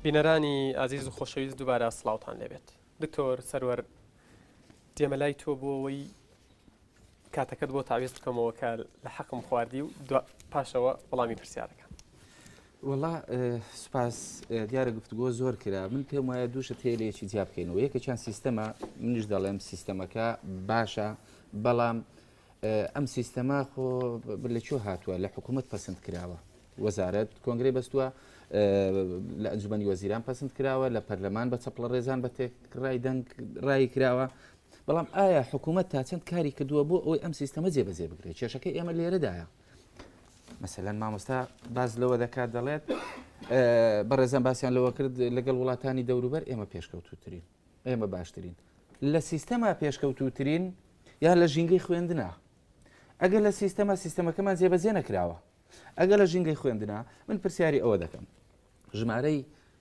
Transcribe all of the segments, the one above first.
بینەرانی ئازیز و خۆشەویست دووبارە سلااوان لێبێت دکتۆر سەروەر دێمە لای تۆ بۆەوەی کاتەکەت بۆ تاویز بکەمەوە کە لە حەقم خواردی و پاشەوە وەڵامی پرسیارەکە وڵا سوپاس دیارە گفتگۆ زۆر کرا من پێم وایە دووشە تێلەیەکی جیا بکەینەوە یەکە چند سیستەما منیش دەڵێم سیستەمەکە باشە بەڵام ئەم سیستەما خۆ لە چۆ هاتووە لە حکوومەت پسند کراوە وەزارەت کۆنگری بەستووە لە ئەنجومی وەزیران پسند کراوە لە پەرلەمان بە چەپڵە ڕێزان بە تێکڕای دەنگ ڕای کراوە بەڵام ئایا حکوومەت تا چەند کاری کردووە بۆ ئەوەی ئەم سیستەمە جێبەجێ بکرێت کێشەکە ئێمە لێرەدایە مەسەلەن مامۆستا باز لەوە دەکات دەڵێت بەڕێزان باسییان لەوە کرد لەگەڵ وڵاتانی دەوروبەر ئێمە پێشکەوتوترین ئێمە باشترین لە سیستەما پێشکەوتوترین یان لە ژینگەی خوێندنا ئەگەر لە سیستەما سیستەمەکەمان جێبەجێ نەکراوە ئەگەر لە ژینگەی خوێندنا من پرسیاری ئەوە دەکەم ژمارەی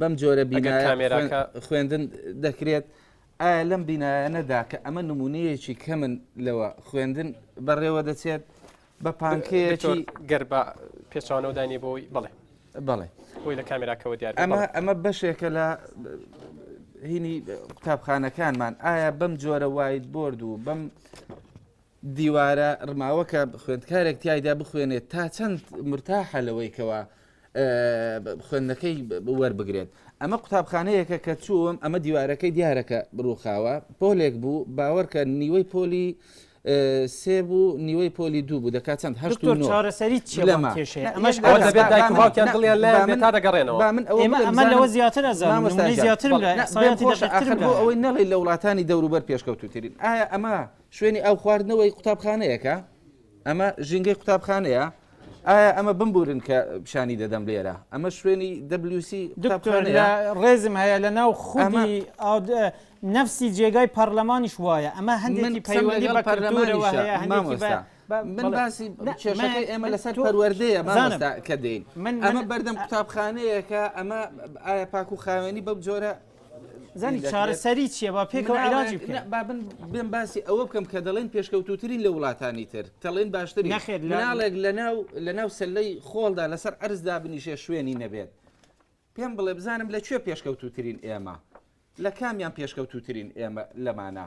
بەم جۆرە بینایە خوێندن دەکرێت ئایا لەم بینایەنەدا کە ئەمە نمونەیەکی کەمن لەوە خوێندن بەڕێوە دەچێت بە پانکەیەکی گەر بە پێچوانەوە دانی بۆی بڵێ بڵێ خۆی لە کامێراکەەوە دیار ئەمە ئەمە بەشێکە لە هینی قوتابخانەکانمان ئایا بەم جۆرە وایت بۆرد و بەم دیوارە رماوەکە خوێندکارێک تیایدا بخوێنێت تا چەند مرتاحە لەوەی کەوا خوێندنەکەی وەربگرێت ئەمە قوتابخانەیەکە کە چووم ئەمە دیوارەکەی دیارەکە بڕوخاوە پۆلێک بوو باوەرکە نیوەی پۆلی سێ بوو نیوەی پۆلی دوو بوو دەکات چەند هەشت چارەسەری لەمە ئەمەش دەبێت دایک باوکیان دڵیان لە من تا دەگەڕێنەوە من ئەمە لەوە زیاتر زیاتر ئەوەی نەڵی لە وڵاتانی دەوروبەر پێشکەوتوترین ئایا ئەمە شوێنی ئاو خواردنەوەی قوتابخانەیەکە، ئەمە ژینگەی قوتابخانەیە، ئایا ئەمە بمبورن کە پیشانی دەدەم لێرە، ئەمە شوێنی WC قوتابخانەیە. ڕێزم هەیە لە ناو خودی نەفسی جێگای پەڕلەمانیش وایە، ئەمە هەندێکی پەیوەندی بە پەرلەمانەوە هەیە، هەندێکی بە من باسی کێشەکەی ئێمە لەسەر پەروەردەیە مامۆستا کە دێین، ئەمە بەردەم قوتابخانەیەکە، ئەمە ئایا پاک و خاوێنی بەم جۆرە زانی چارەسەری چیە با پێکەوە علاجی بکەین با بن بێم باسی ئەوە بکەم کە دەڵێن پێشکەوتوترین لە وڵاتانی تر تەڵێن باشتر نەخێت لەناڵێک لەناو لەناو سلەی خۆڵدا لەسەر ئەرزدا بنیشێ شوێنی نەبێت پێم بڵێ بزانم لە کوێ پێشکەوتوترین ئێمە لە کامیان پێشکەوتوترین ئێمە لەمانە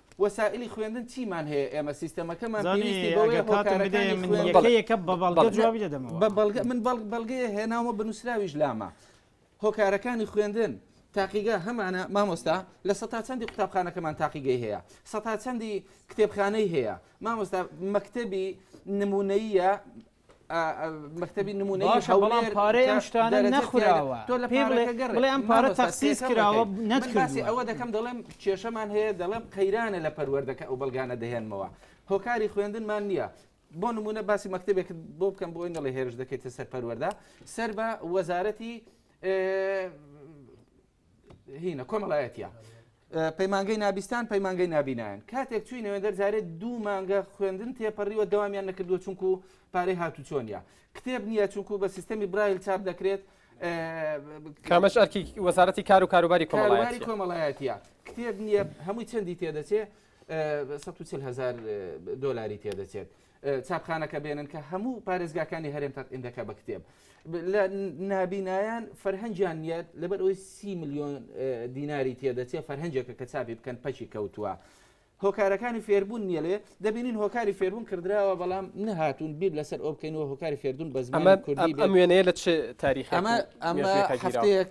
وەسائلی خوێندن چیمان هەیە ئێمە سیستەمەکەمان پێویستی بەوەیە هۆکارەکانی خوێندن بە بەڵگە من بەڵگەیە هێناومە بنووسراویش لامە هۆکارەکانی خوێندن تاقیگە هەمانە مامۆستا لە سە چەندی قوتابخانەکەمان تاقیگەی هەیە سە چەندی کتێبخانەی هەیە مامۆستا مەکتتەبی نمونەیە مەکتتەبی نمونەی هەوڵان پارەی ئەم شتانە نەخوراوە تۆ لە پێڵێ ئەم پارە تەخسیس کراوە نەتکراسی ئەوە دەکەم دەڵێم کێشەمان هەیە دەڵێم قەیرانە لە پەروەردەکە ئەو بەڵگانە دەهێنمەوە هۆکاری خوێندنمان نییە بۆ نمونە باسی مەکتتەبێک بۆ بکەم بۆی نەڵێ هێرش دەکەیتە سەر پەروەەردە سەر بە وەزارەتی هینە کۆمەڵایەتە. پەیمانگەی نابیستان پەیمانگەی نابینایان کاتێک چوی نوێندەر جارێت دوو مانگە خوێندن تێپەڕیوە دەوامیان نەکردووە چونکو پارەی هاتو چۆنیە کتێب نییە چونکو بە سیستەمی برایل چاپ دەکرێت کامەش ئەرکی وەزارەتی کار و کاروباری کۆمەڵایەتی کۆمەڵایەتە کتێب نییە هەمووی چەندی تێدەچێت هزار دلاری تێدەچێت چاپخانەکە بێنن کە هەموو پارێزگاکانی هەرێم تەتئیندەکە بە کتێب لە نابینایان فەرهەنجیان نیە لەبەر ئەوی سی میلیۆن دیناری تێدەچێ فەرهەنجێکە کە چاپی بکەن پەچی کەوتووە. هۆکارەکانی فێربوون نیە لێ دەبینین هۆکاری فێربوون کردراوە بەڵام نەهاتون بیر لەسەر ئەو بکەینەوە هۆکاری فێردون بە زمان کوردی ئەم وێنەیە لە چ تاریخ ئەمە ئەمە هەفتەیەک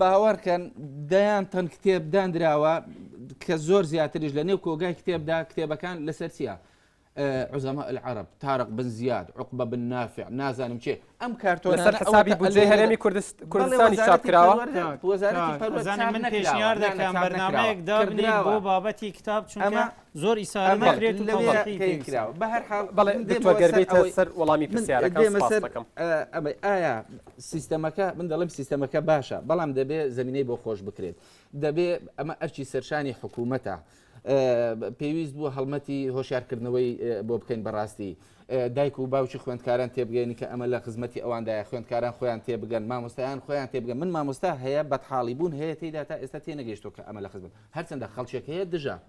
باوەڕکەن دەیان تەن کتێب دانراوە کە زۆر زیاتریش لە نێو کۆگای کتێبدا کتێبەکان لەسەر چیە عزەما العرب تارق بن زیاد عقبە بن نافع نازانم چێ ئەم کارتۆن لەسەر حسابی بودجەی هەرێمی کوردستانی چاپ کراوە وەزارەتی پەروەردە من پێشنیار دەکەم بەرنامەیەک دابنێ بۆ بابەتی کتاب چونکە زۆر ئیسارە دەکرێت و لەوێ تەواقی پێی کراوە. بە هەر حاڵ بەڵێ من دێمەوە دکتۆر گەر سەر بێیتە ئەوەی سەر وەڵامی من پرسیارەکان دێمە سوپاست سەر دەکەم ئە، ئەمەی ئایا سیستەمەکە من دەڵێم سیستەمەکە باشە بەڵام دەبێ زمینەی بۆ خۆش بکرێت دەبێ ئەمە ئەرچی سەرشانی حکوومەتە ئە، پێویست بوو هەڵمەتی هۆشارکردنەوەی ئە، بۆ بکەین بەڕاستی ئە، دایک و باوکی خوێندکاران تێبگەین کە ئەمە لە خزمەتی ئەواندایە خوێندکاران خۆیان تێبگەن مامۆستایان خۆیان تێبگەن من مامۆستا هەیە بەتحاڵی بوون هەیە تێیدا تا ئێستا تێنەگەیشتووە کە ئەمە لە خزمەت هەرچەندە خەڵکێک هەیە دژە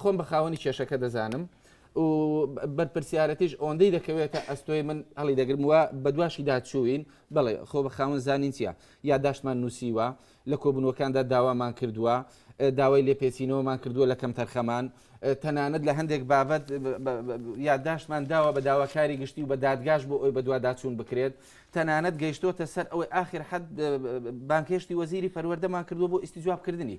خۆم بە خاوەنی کێشەکە دەزانم و بەرپرسیارەتیش ئۆندەی دەکەوێتە ئەستۆی من هەڵی دەگرم وە بە دواشی داچووین بەڵێ خۆ بە خاون زانین چیە یاداشتمان نووسیوە لە کۆبنەوەکاندا داوامان کردووە داوای لێپێچینەوەمان کردووە لە کەم تەرخەمان تەنانەت لە هەندێک بابەت یادداشتمان داوە بە داواکاری گشتی و بە دادگاش بۆ ئەوی بەدوواداچوون بکرێت تەنانەت گەیشتوتە سەر ئەوەی آخر حد بانکێشتی وەزیری پەروەردەمان کردووە بۆ ئیستی جوابکردنی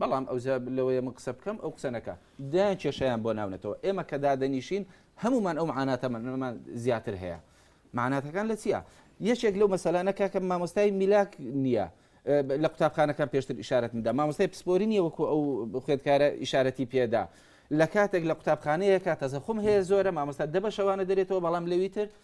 بەڵام ئەو جا لەوەیە من قسە بکەم ئەو قسە نەکا. دەیان کێشەیان بۆ ناونەتەوە. ئێمە کە دادەنیشین هەموومان ئەو مەعاناتەمانەمان زیاتر هەیە. مەعاناتەکان لە چییە؟ یەکێک لەو مەسەلانە کاکە مامۆستای میلاک نییە. لە قوتابخانەکان پێشتر ئیشارەتم دا. مامۆستای پسپۆری نییە وەکوو ئەو خوێندکارە ئیشارەتی پێ دا. لە کاتێک لە قوتابخانەیەکە تەزەخوم هەیە زۆرە، مامۆستا دە بەشەوانە دەرێتەوە بەڵام لەوی تر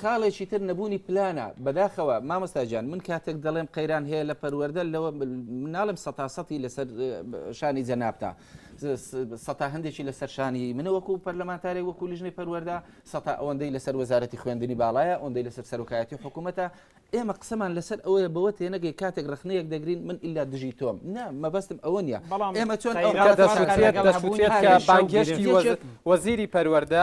خاڵێکی تر نەبوونی پلانە. بەداخەوە مامۆستا گیان من کاتێک دەڵێم قەیران هەیە لە پەروەردە لەوە ناڵێم سەتا سەتی لەسەر شانی جەنابتە سەتا هەندێکی لەسەر شانی منە وەکو پەرلەمانتارێک وەکو لیژنەی پەروەردە سەتا ئەوەندەی لەسەر وەزارەتی خوێندنی باڵایە ئەوەندەی لەسەر سەرۆکایەتی حکوومەتە ئێمە قسەمان لەسەر ئەوەیە بەوە تێنەگەی کاتێک ڕەخنەیەک دەگرین من ئیلا دژی تۆم نا مەبەستم ئەوە نیە بەڵام ئێمە چۆن ئەو قەیران دەسوتێت دەسوتێت کە بانگهێشتی وەزیری پەروەردە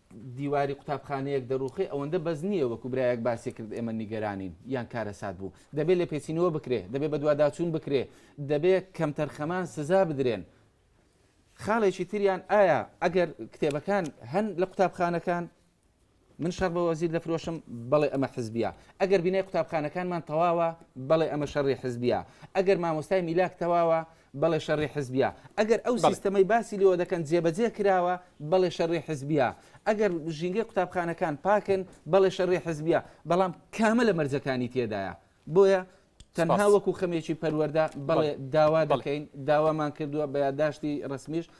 دیواری قوتابخانەیەک دەڕووخێ ئەوەندە بەس نییە وەکو برایەک باسی کرد ئێمە نیگەرانین یان کارەسات بوو دەبێ لێپێچینەوە بکرێ دەبێ بەدواداچوون بکرێ دەبێ کەمتەرخەمان سزا بدرێن خاڵێکی تریان ئایا ئەگەر کتێبەکان هەن لە قوتابخانەکان من شەڕ بە وەزیر دەفرۆشم بەڵێ ئەمە حزبیە ئەگەر بینای قوتابخانەکانمان تەواوە بەڵێ ئەمە شەڕی حزبیە ئەگەر مامۆستای میلاک تەواوە بەڵێ شەڕی حزبییە. ئەگەر ئەو بەڵێ. سیستەمەی باسی لێوە دەکەن جێبەجێ کراوە، بەڵێ شەڕی حزبییە. ئەگەر ژینگەی قوتابخانەکان پاکن، بەڵێ شەڕی حزبییە. بەڵام کامە لە مەرجەکانی تێدایە؟ بۆیە تەنها سپاس. وەکو خەمێکی پەروەردە، بەڵێ بەڵێ. داوا بەڵێ. دەکەین، داوامان کردووە، بە یادداشتی رەسمیش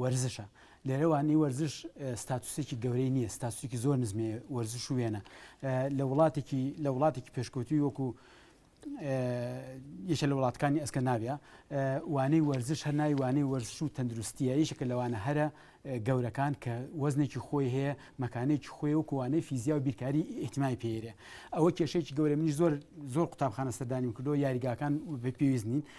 وەرزشە. لێرە وانەی وەرزش ستاتوسێکی گەورەی نییە، ستاتوسێکی زۆر نزمێ وەرزش و وێنە لە وڵاتێکی لە وڵاتێکی پێشکەوتوی وەکو یەکە لە وڵاتەکانی ئەسکە ناویە وانەی وەرزش هەر ناوی وانەی وەرزش و تەندروستیە یشەکە لەوانە هەرە گەورەکان کە وەزنێکی خۆی هەیە مەکانێکی خۆی و کوانەی فیزیا و بیرکاری ئیحتیمای پێرێ ئەوە کێشێکی گەورە منی زۆر زۆر قوتابخانە سەردانی کردو یاریگاکان پێویست نین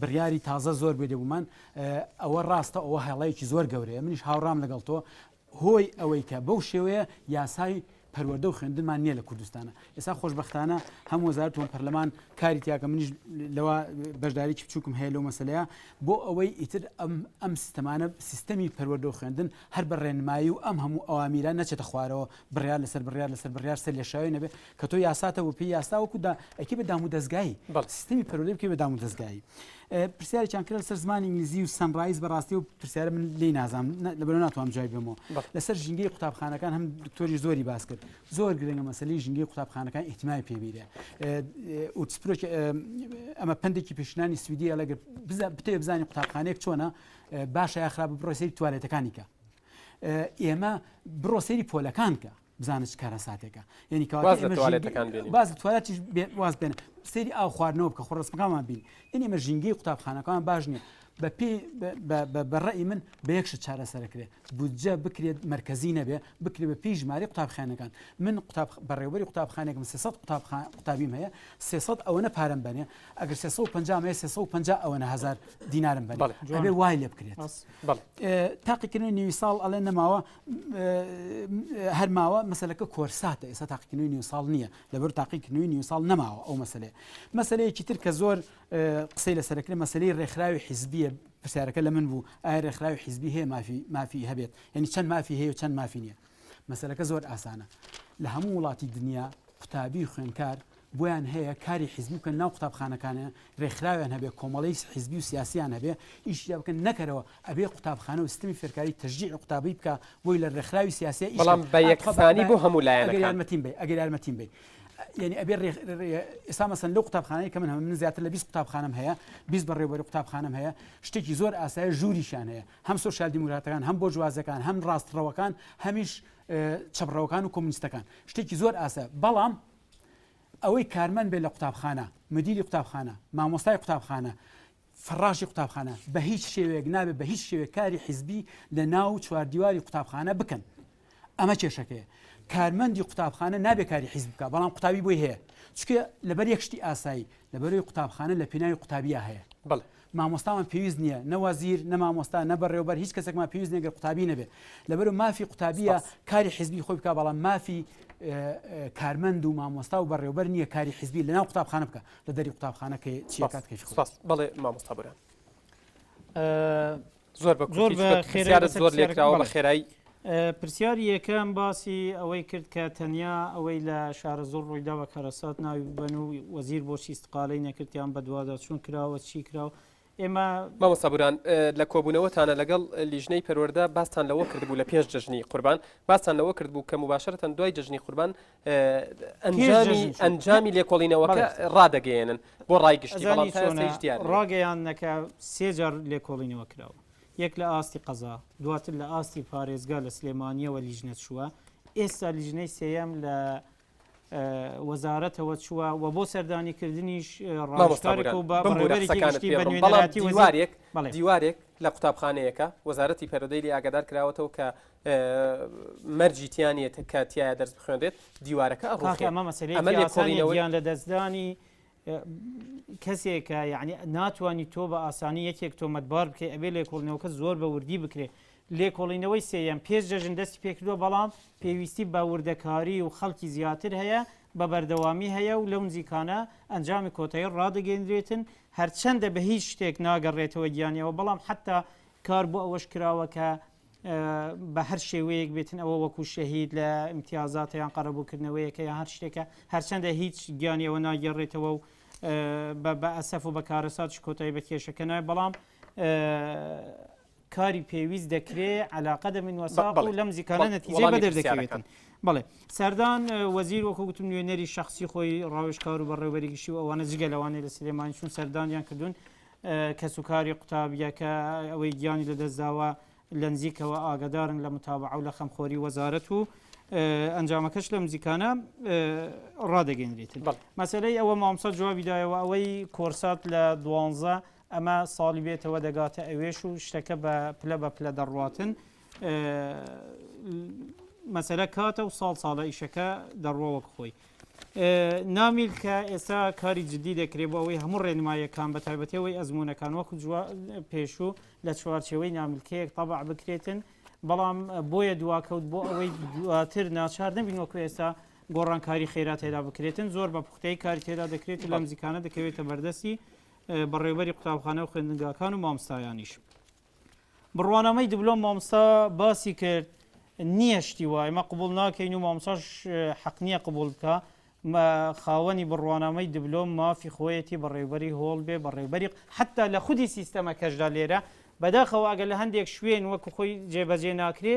بڕیاری تازە زۆر بێ دەبوومان ئەوە ڕاستە ئەوە هەڵەیەکی زۆر گەورەیە منیش هاوڕام لەگەڵ تۆ هۆی ئەوەی کە بەو شێوەیە یاسای پەروەدە و خوێندنمان نییە لە کوردستانە ئێستا خۆشببختانە هەم وەزارتون پەرلەمان کاری تیاکە منیش لەوە بەشداریی بچووکم هەیە لەو مەسلەیە بۆ ئەوەی ئیتر ئەم ئەم سیستەمانە سیستەمی پەروەدە و خوێندن هەر بە ڕێنمایی و ئەم هەموو ئەوامیران نەچێتە خوارەوە بڕیار لەسەر بڕیار لەسەر بڕیار سەر لە شاوێ نەبێ کە تۆ یاساتە بۆ پێی یاستا وەکو دا ئەکی بە دام و دەستگایی بەڵێ سیستمی پەروەردەی بکەی بە دام و دەستگایی پرسیارێکیان کرد لەسەر زمانی ئینگلیزی و سەنڕایز بەڕاستی و پرسیارە من لی نازانم نە- لەبەر ناتوانم جوابی بەمەوە بەڵێ. لەسەر ژینگەی قوتابخانەکان هەم دکتۆری زۆری باس کرد زۆر گرنگە مەسەلەی ژینگەی قوتابخانەکان ئیهتیمامی پێ بیرێ ئوتسپرۆکی ئەمە پندێکی پێشنانی سویدیە لەگەر بزا بتەوێ بزانی قوتابخانەیەک چۆنە اه، باشە یا خراپە بڕۆ سەیری توالێتەکانی کە ئێمە بڕۆ سەیری پۆلەکان کە بزانە چ کارەساتێکە یعنی کەواتە باز لە ئێمە توالێتەکان ژینگە- بێنین. باز توالەتیش بێ- واز بێنە سەیری ئاو خواردنەوە بکە خۆ ڕسمەکانمان بین یعنی ئێمە ژینگەی قوتابخانەکان باش نییە بە پێی بە- بە- بە- بە ڕێی من بە یەک شت چارەسەر کرێ بودجە بکرێت مرکزی نەبێ بکرێ بە پێی ژمارەی قوتابخانەکان من قوتاب بەڕێوەبەری قوتابخانێکم 300 قوتابخان قوتابیم هەیە 300 ئەوەنە پارەم بەنێ ئەگەر 350 مەیە 350 ئەوەنە هەزار دینارم بەنێ بەڵێ. ئەبێ وای لێ بکرێت بەس بەڵێ ئێ، تاقیکردنەوەی نیوی ساڵ ئەڵێ نەماوە هەر ماوە مەسلەکە کۆرساتە ئێستا تاقیکردنەوەی نیو ساڵ نییە لەبەر تاقیکردنەوەی نیو ساڵ نەماوە ئەو مەسلەیە مەسلەیەکی تر کە زۆر قسەی لەسەرکرێ مەسلەی ڕێکخراوی حیزبیە پرسیارەکە لە من بوو ئایا ڕێکخراوی حیزبی هەیە مافی مافی هەبێت یعنی چەند مافی هەیە و چەند مافی نییە مەسلەکە زۆر ئاسانە لە هەموو وڵاتی دنیا قوتابی خوێنکار بۆیان هەیە کاری حیزبی بکەن ناو قوتابخانەکانە رێکخراویان هەبێ کۆمەڵەی حیزبی و سیاسیان هەبێ ئیشی تیا بکەن نەکەرەوە ئەبێ قوتابخانە و سیستمی فێرکاری تەشجیعی قوتابی بکا بۆی لە رێکخراوی سیاسیە ئیش بەڵام بە کەن ئا تخوا یەکسانی بۆ هەموو بە ئەگەر لایەنەکان یارمەتیم بەی ئەگەر یارمەتیم بەی یانی ئەبێ رێ رێ ئێستا مەسەن لەو قوتابخانەی کە من هەم من زیاتر لە بیست قوتابخانەم هەیە بیست بەڕێوەبەری قوتابخانەم هەیە شتێکی زۆر ئاسایە ژووریشیان هەیە هەم سۆسیال دیموکراتەکان هەم بۆرجوازەکان هەم راستڕەوەکان هەمیش ئه چەپڕەوەکان و کۆمونیستەکان شتێکی زۆر ئاسایە بەڵام ئەوەی کارمەند بێت لە قوتابخانە، مدیری قوتابخانە، مامۆستای قوتابخانە، فەڕاشی قوتابخانە، بە هیچ شێوەیەک نابێت بە هیچ شێوەیەک کاری حیزبی لە ناو چواردیواری قوتابخانە بکەن. ئەمە کێشەکەیە. کارمەندی قوتابخانە نابێت کاری حیزب بکات، بەڵام قوتابی بۆی هەیە. چونکە لەبەر یەک شتی ئاسایی، لەبەر ئەوەی قوتابخانە لە پێناوی قوتابیا هەیە. بەڵێ. مامۆستامان پێویست نیە نە وەزیر نە مامۆستا نە بەڕێوەبەر هیچ کەسێکمان پێویست نیە گەر قوتابی نەبێ لەبەرو مافی قوتابیە سپاس. کاری حزبی خۆی بکا بەڵام مافی کارمەند و مامۆستا و بەڕێوەبەر نیە کاری حزبی لەناو قوتابخانە بکا لە دەری قوتابخانە کە چیە سپاس کات کەش خۆی. سپاس بەڵێ مامۆستا برام. زۆر بە زۆر بە خێرا زۆر لێکراوە بە خێرایی پرسیاری یەکەم باسی ئەوەی کرد کە تەنیا ئەوەی لە شارە زۆر ڕوویداوە کەرەسات ناوی ببن و وەزیر بۆچی استقالەی نەکردیان بەدوادا چون کراوە چی کراوە ئێمە مامە سەبوران لە کۆبوونەوەتانە لەگەڵ لیژنەی پەروەەردە باستان لەوە کردبوو لە پێش جژنی قوربان باستان لەوە کردبوو کە مباشرەتەن دوای جژنی قوربان ئەنجامی لێکۆڵینەوەکە ڕادەگەیەنن بۆ ڕای گشتیڕاگەیانەکە سێجار لێکۆڵینەوە کراوە یەک لە ئاستی قەزا دواتر لە ئاستی پارێزگا لە سلێمانیەوە لیژنە چووە ئێستا لیژنەی سێەم لە وەزارەتەوە چووە و بۆ سەردانیکردنیش ڕاستارێک و بەڕێوەرێکی دیوارێک لە قوتابخانەیەەکە وەزارەتی پەرۆدەی لە ئاگادار کراوەتەوە کە مەرجی تیانە کە تایە دەرس بخوێنێت دیوارەکە ئەڕۆخیان لە دەستدانی کەسێکە یعنی ناتوانانی تۆ بە ئاسانی یەکێک تۆمەتبار بکەێت ئەبێ لێکۆڵنەوەکە زۆر بە وردی بکرێت لێکۆڵینەوەی سێەم پێش جەژن دەستی پێکردووە بەڵام پێویستی بە وردەکاری و خەڵکی زیاتر هەیە بە بەردەوامی هەیە و لەو نزیکانە ئەنجامی کۆتایی ڕدەگەندرێتن هەرچەندە بە هیچ شتێک ناگەڕێتەوە گیانیەوە بەڵام حتا کار بۆ ئەوەش کراوە کە بە هەر شێوەیەک بێتن ئەوە وەکو شەهید لە امتیازاتە یان قەرەبووکردنەوەیەکە یان هەر شتێکە هەرچەندە هیچ گیانی ئەوە ناگەڕێتەوە و بە ئەسەف و بە کارەساتش کۆتایی بە کێشەکە نای بەڵام کاری پێویست دەکرێ علاقە دە من وەساق و لەم زیکارە نەتیجە بە دەردەکەوێتن بڵێ سەردان وەزیر وەکو گوتم نوێنەری شخصی خۆی ڕاوشکار و بەڕێوەریگشی و ئەوانە جگە لەوانێ لە سلێمانی چون سەردانیان کردوون کەسوکاری قوتابییەکە، ئەوەی گیانی لەدەستداوە، لەنزیکەوە ئاگەدارن لە متابەعە و لە خەمخۆری وەزارەت و ئەنجامەکەش لەم نزیکانە ڕادەگەیەنرێت. مەسەلەی ئەوە مامۆستا جوابی دایەوە، ئەوەی کۆرسات لە دوانزە ئەمە ساڵی بێتەوە دەگاتە ئەوێش و شتەکە بە پلە بە پلە دەڕواتن، مەسەلە کاتە و ساڵ ساڵە ئیشەکە دەڕوا وەک خۆی. نامیل کە ئێستا کاری جددی دەکرێت بۆ ئەوەی هەموو ڕێنماییەکان بە تایبەتی ئەوەی ئەزمونونەکان وەکو پێشوو لە چوارچەوەی نامیلکەیەک تەبع بکرێتن بەڵام بۆیە دواکەوت بۆ ئەوەی دواتر ناچار نەبین وەکو ئێستا گۆڕانکاری خێرا تێدا بکرێتن زۆر بە پوختەی کاری تێدا دەکرێت لەم زیکانە دەکەوێتە بەردەستی بەڕێوبەری قوتابخانە و خوێندنگاکان و مامستایانیش. بڕوانامەی دبلۆم مامۆستا باسی کرد نییە شتی وای مە قبول ناکەین و مامۆساش حەق نییە قبول بکە خاوەنی بڕوانامەی دبلۆم مافی خۆیەتی بەڕێوبەری هۆڵ بێ بەڕێوبەری حتا لە خودی سیستەمەکەشدا لێرە بەداخەوە ئەگە لە هەندێک شوێن وەکو خۆی جێبەجێ ناکرێ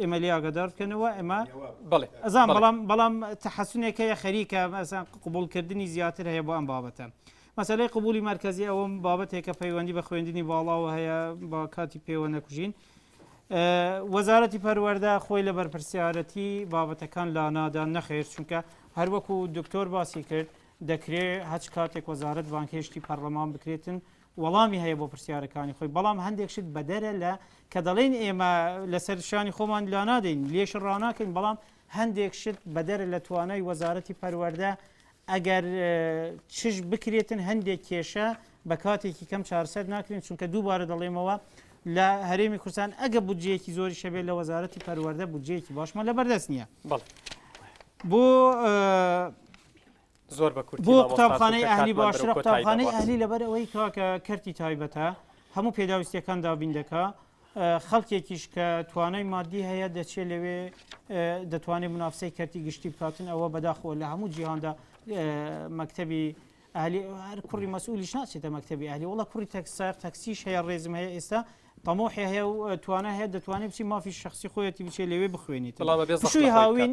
ئێمە لێ ئاگادار بکەنەوە ئێمە بەڵێ ئەزان بەڵام بەڵام تحسنێک هەیە خەریکە مەسەن قبولکردنی زیاتر هەیە بۆ ئەم بابەتە مەسلەی قبولی مرکزی ئەوم بابەتێکە پەیوەندی بە خوێندنی باڵاوە هەیە با کاتی پێوە نەکوژین وەزارەتی پەروەەردە خۆی لە بەرپرسیارەتی بابەتەکان لا نادان نەخێر چونکە هەروەکو دکتۆر باسی کرد دەکرێ هەچ کاتێک وەزارت بانکهێشتی پەرلەمان بکرێتن وەڵامی هەیە بۆ پرسیارەکانی خۆی، بەڵام هەندێک شت بەدەرە لە کە دەڵێین ئێمە لەسەر شانی خۆمان لانادەین، لێش ڕاناکەین، بەڵام هەندێک شت بەدەرە لە توانای وەزارەتی پەروەردە، ئەگەر چش بکرێتن هەندێک کێشە بە کاتێکی کەم چارەسەر ناکرێن، چونکە دووبارە دەڵێمەوە لە هەرێمی کوردستان ئەگە بودجەیەکی زۆریش هەبێت لە وەزارەتی پەروەردە بودجەیەکی باشمان لەبەردەست نییە. بەڵێ. بۆ بۆ قوتابخانەی ئەهلی باشترە قوتابخانەی ئەهلی لەبەر ئەوەی کاکە کەرتی تایبەتە هەموو پێداویستیەکان دابین دەکا خەڵکێکیش کە توانای مادی هەیە دەچێت لەوێ دەتوانێت منافسەی کەرتی گشتی بکاتن ئەوە بەداخۆ لە هەموو جیهاندا مەکتتەبی ئەهلی هەر کوڕی مەسئولیش ناچێتە مەکتتەبی ئەهلی وڵە کوڕی تەکسار تەکسیش هەیە ڕێزم هەیە ئێستا تەمۆحی هەیە و توانە هەیە دەتوانێت بچی مافی شخصی خۆیەتی بچێت لەوێ بخوێنیت بەڵام بێ هاوین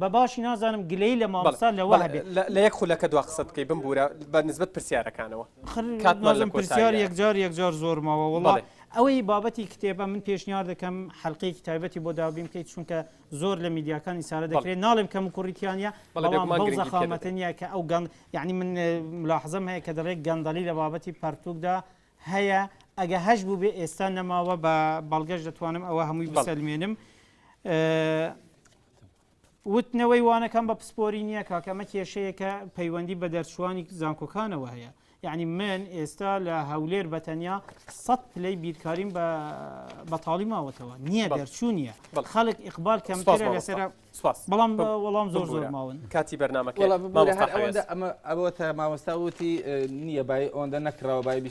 بە باشی نازانم گلەیی لە مامۆستا لەوە بەڵێ هەبێ. لە لە یەک خولەکە دوا قسەت بکەی بمبوورە بە نسبەت پرسیارەکانەوە خر کاتمان لە نازم پرسیار کۆتاییە. یەکجار یەکجار زۆر ماوە وەڵا بەڵێ. ئەوەی بابەتی کتێبە من پێشنیار دەکەم حەلقەیەکی تایبەتی بۆ دابین بکەی چونکە زۆر لە میدیاکانی سارە بەڵێ. دەکرێ ناڵێم کەم و کوڕی تیا نیە بەڵێ بەڵام بێگومان بەو گرنگی پێ زەخامەتە دەدەین. نیە کە ئەو گەن یەعنی من ملاحەزەم هەیە کە دەڵێ گەندەڵی لە بابەتی پەرتووکدا هەیە ئەگە هەش بووبێ ئێستا نەماوە بە بەڵگەش دەتوانم ئەوە هەمووی بەڵێ. بسەلمێنم وتنەوەی وانەکان بە پسپۆری نییە کاکە ئەمە کێشەیەکە پەیوەندی بە دەرچووانی زانکۆکانەوە هەیە یعنی من ئێستا لە هەولێر بەتەنیا سەد پلەی بیرکاریم بە بەتاڵی ماوەتەوە نییە دەرچوو نییە خەڵک ئیقبال کەمترە لەسەر بەڵام وەڵام زۆر زۆر ماون کاتی بەرنمەکە ئەوە مامۆستا وتی نییە بای ئەوەندە نەکراوە بای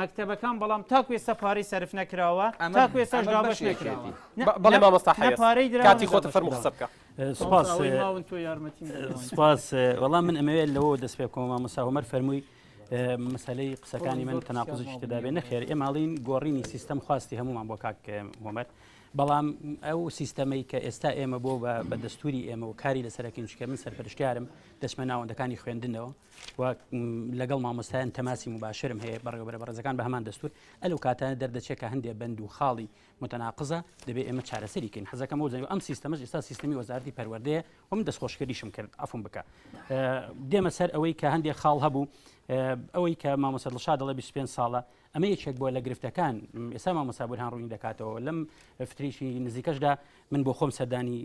مەکتەبەکان بەڵام تاکو ئێستا پارەی سەرف نەکراوە تاکو ئێستاش دابەش نەکراوە بەڵێ مامۆستا حەیەت نە پارەی دراوە کاتی خۆتە فەرموو قسە بکە سوپاس مامۆستا ئەوەی ماون تۆ یارمەتیم بدەیت سوپاس وەڵام من ئەمەوێت لەوەوە دەست پێ بکەمەوە مامۆستا هۆمەر فەرمووی مەسەلەی قسەکانی من تەناقوزیش تێدا بێ نەخێر ئێ ماڵین گۆڕینی سیستەم خواستی هەمومان بۆ کاک هۆمەر بەڵام ئەو سیستەمەی کە ئێستا ئێمە بۆ بە دەستوری ئێمە و کاری لەسەرەکەین چکە من سەرپەرشتیارم دەچمە ناوەندەکانی خوێندنەوە و لەگەڵ مامۆستایان تەماسی مباشرم هەیە بەڕێوەبەرە بەڕێزەکان بە هەمان دەستور ئەلو کاتانە دەردەچێت کە هەندێک بند و خاڵی متەناقزە دەبێ ئێمە چارەسەری کەین حەزەکەم و زەنگ ئەم سیستەمەش ئستا سیستمی وەزارتی پەروەردەیە و من دەستخۆشکردیشم کرد ئەفم بکە دێمە سەر ئەوەی کە هەندێک خاڵ هەبوو ئەوەی کە مامۆسەدڵشا دەڵێ 25 ساڵە ئەمە یەکێک بووە لە گرفتەکان ئێستا مامۆستا بورهان ڕوونی دەکاتەوە لەم فترێکی نزیکەشدا من بۆ خۆم سەردانی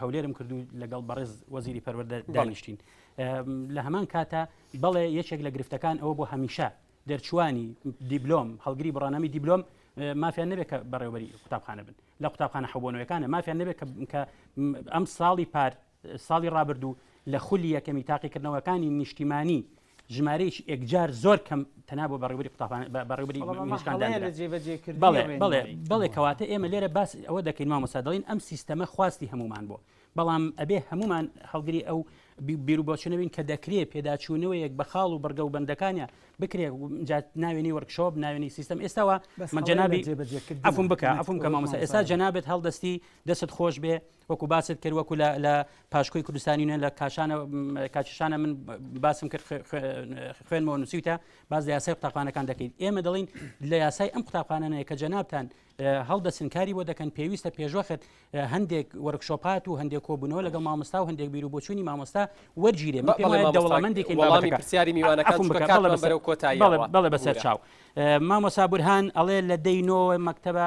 هەولێرم کردو لەگەڵ بەڕێز وەزیری پەروەردە دانیشتین لە هەمان کاتە بەڵێ یەکێک لە گرفتەکان ئەوە بۆ هەمیشە دەرچوانی دیبلۆم هەڵگری بڕانامی دیبلۆم مافیان نەبێت کە بەڕێوبەری قوتابخانە بن لە قوتابخانە حەبوونەوەەکانە مافیان نەبێت کە ئەم ساڵی پار ساڵی ڕابردوو لە خولی یەکەمی تاقیکردنەوەکانی نیشتیمانی ژمارەیەکی ئێکجار زۆر کەم تەنا بۆ بەڕێوبەری قوتابخانە بە- بەڕێوبەری بەڵام ئەمە نیشتمان هەڵەیە دانرا. لە جێبەجێکردنی بەڵێ بەڵێ ڕێنمایی. بەڵێ کەواتە ئێمە لێرە باس ئەوە دەکەین مامۆستا دەڵێن ئەم سیستەمە خواستی هەموومان بووە بەڵام ئەبێ هەموومان هەڵگری ئەو بی- بیروبۆچونە بین کە دەکرێ پێداچوونەوەیەک بە خاڵ و بڕگە و بەندەکانە بکرێ و جا ناوێنی وەرکشۆپ ناوێنی سیستەم ئێستاوە بەس من هەڵەیە لە جەنابی جێبەجێکردنە. عفوم بکە نەک عفوم کە ئەوەی مامۆستا ئێستا مامۆستا. جەنابت هەڵدەستی دەستت خۆش بێ وەکو باست کرد وەکو لە پاشکۆی کوردستانی نوێن لە کاشانە کاچشانە من باسم کرد خوێنمەوە نووسیتە باز لە یاسای قوتابخانەکان دەکەیت ئێمە دەڵین لە یاسای ئەم قوتابخانەیە کە جەنابان هەڵدەسنکاری بۆ دەکەن پێویستە پێشوەخت هەندێک وەرکشۆپات و هەندێک کۆبوونەوە لەگەڵ مامۆستا و هەندێک بیر و بۆچوونی مامۆستا وەرگیرێ دەوڵامەندێکی وڵامی پرسیاری میوانەکان بەرەو کۆتایی بەڵێ بەسەر چاو مامۆسا بورهان ئەڵێ لە دەینۆ مەکتتەبە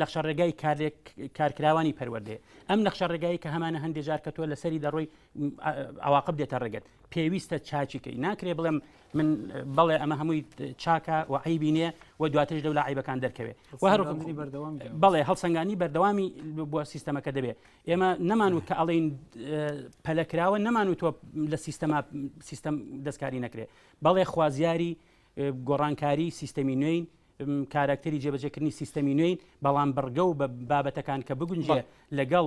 نەخشە ڕێگای کارکراوانی پەروەردێ ئەم نەخشە ڕێگایی کە هەمانە هەندێک جار کە تۆ لەسەری دەڕۆی ئەواقب دێتە ڕێگەت پێویستە چاچیکەی ناکرێ بڵێم من بەڵێ ئەمە هەمووی چاکە و عیبی نیە و دواترش لەو لە عیبەکان دەرکەوێت و هەر بەڵێ هەڵسەنگانی بەردەوامی بۆ سیستەمەکە دەبێت ئێمە نەمان و کە ئەڵین پەلەکراوە نەمان و تۆ لە سیستەما سیستەم دەستکاری نەکرێت بەڵێ خوازیاری گۆڕانکاری سیستەمی نوێین، کاراکتەری جێبەجێکردنی سیستەمی نوێین، بەڵام بڕگە و بابەتەکان کە بگونجێ لەگەڵ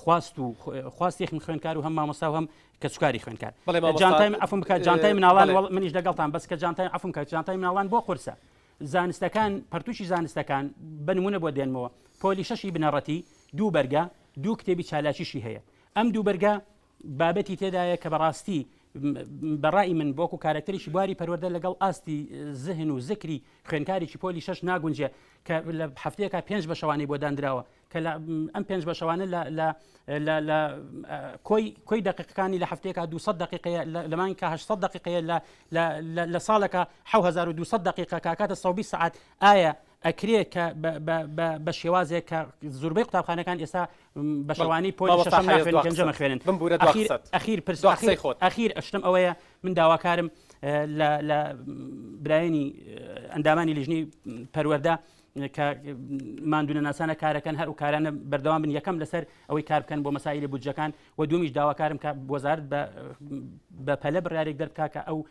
خواست و خواستی خم خوێنکار و هەم مامۆستا و هەم کەسوکاری خوێنکار جانتای ئەفم بکات جانتای مناڵان منیش دەگەڵتان بەس کە جانتای ئەفم کات جانتای مناڵان بۆ قرسە زانستەکان پرتوشی زانستەکان بنمونە بۆ دێنمەوە پۆلی شەشی بنەڕەتی دوو بەرگە دوو کتێبی چالاکیشی هەیە ئەم دوو بەرگە بابەتی تێدایە کە بەڕاستی بە ڕای من بۆ و کارکتەرێکی بواری پەروەەردە لەگەڵ ئاستی زهن و زکری خوێنکارێکی پۆلی شش ناگونجێ کە لە هەفتەیەکە پێنج بە شەوانی بۆ دانراوە کە ئەم پێنج بە شەوانە لە کۆی کۆی دقیقەکانی لە هەفتەیەکە 200 دقیقەیە لەمان کە 800 دقیقەیە لە ساڵەکە 1970 دقیقە کاکاتە سەبی سعات ئایا ئەکرێ کە بە شێوازێک کە زوربەی قوتابخانەکان ئێستا بە شەوانی پۆلی شەشەم ناخوێن و پێنجەم ئەخوێنن بمبورە دوای ئەخیر قسەت ئەخیر پرس دوای قسەی خۆت. ئەخیر شتم ئەوەیە من داواکارم اه، لە لە برایانی اه، ئەندامانی لیژنەی پەروەردە اه، کە ماندوونەناسانە کارەکەن هەر و کارانە بەردەوام بن یەکەم لەسەر ئەوەی کار بکەن بۆ مەسایلی بودجەکان و دومیش داواکارم کە وەزارت بە اه، بە پەلە بڕیارێک دەربکا کە ئەو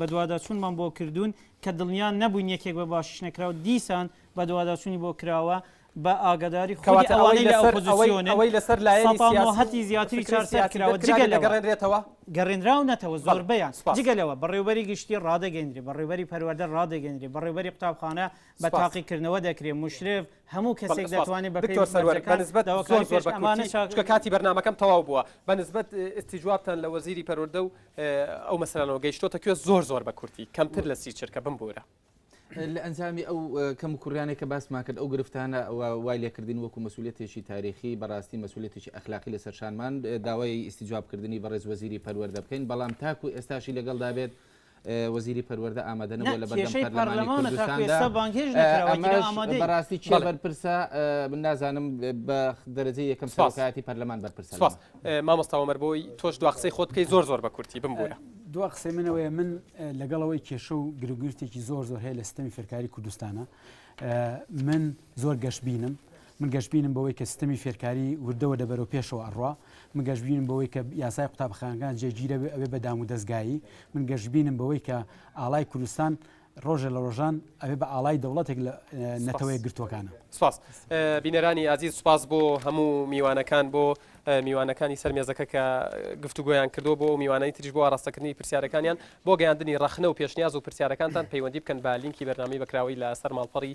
بەدواداچوونمان بۆ کردوون، کە دڵنیا نەبووین یەکێک بە باشیش نەکراو، دیسان بەدواداچوونی بۆ کراوە، بە ئاگاداری خودی ئەوانەی لە ئۆپۆزیسیۆنن، سەتا نۆ هەتی زیاتری چوار سەر کراوە، جگە لەوە گەڕێنراونەتەوە زۆربەیان، جگە لەوە بەڕێوبەری گشتی ڕادەگەیەنرێ، بەڕێوبەری پەروەردە ڕادەگەیەنرێ، بەڕێوبەری قوتابخانە بە تاقیکردنەوە دەکرێ، مشرف، هەموو کەسێک دەتوانێ بە پێی مەرجەکان داواکاری پێشکەش بکات. ئەو مەسەلانەوە گەیشتۆتە کوێ زۆر زۆر بە کورتی کەمتر لە سی چرکە بمبورە. لە ئەنجامی ئەو کەم و کوڕیانێک کە باسمان کرد ئەو گرفتانە وای لێکردین وەکو مەسولێتێکی تاریخی بەڕاستی مەسولێتێکی ئەخلاقی لە سەرشانمان داوای ئیسیجوابکردنی بەڕێز وەزیری پەروەەردە بکەین بەڵام تاکو ئێستاشی لەگەڵ دابێت وەزیری پەروەەردە ئامادەنەوە لە بەڕاستی چ بەرپرسە من نازانم بە دەرەجە یەکەم ساکایەتی پەرلەمان بەرپرس مامۆستا وەمەر بۆی تۆش دوا قسەی خۆت بکەی زۆر زۆر بە کورتی بمبورە. دوا قسەی منەوەیە من لەگەڵەوەی کێشە و گرگرتێکی زۆر زۆر هەیە لە ستەمی فێرکاری کوردستانە من زۆر گەشببینم من گەشببینم بەوەی کە ستەمی فێرکاری وردەوە دەبەرەوە پێشەوە ئەڕوا من گەشببینم بەوەی کە یاسای قوتابخانەکان جێگیرە ئەوێ بە دام و دەستگایی من گەشببینم بەوەی کە ئاڵای کوردستان ڕۆژێ لە ڕۆژان ئەبێ بە ئاڵای دەوڵەتێک لە نەتەوە یەکگرتووەکانە. سپاس بینەرانی ئازیز سپاس بۆ هەموو میوانەکان بۆ میوانەکانی سەر مێزەکە کە گفتوگۆیان کردو بۆ میوانانی تریش بۆ ئاراستەکردنی پرسیارەکانیان بۆ گەیاندنی ڕەخنە و پێشنیاز و پرسیارەکانتان پەیوەندی بکەن بە لینکی بەرنامەی بەکراوەی لە سەر ماڵپەڕی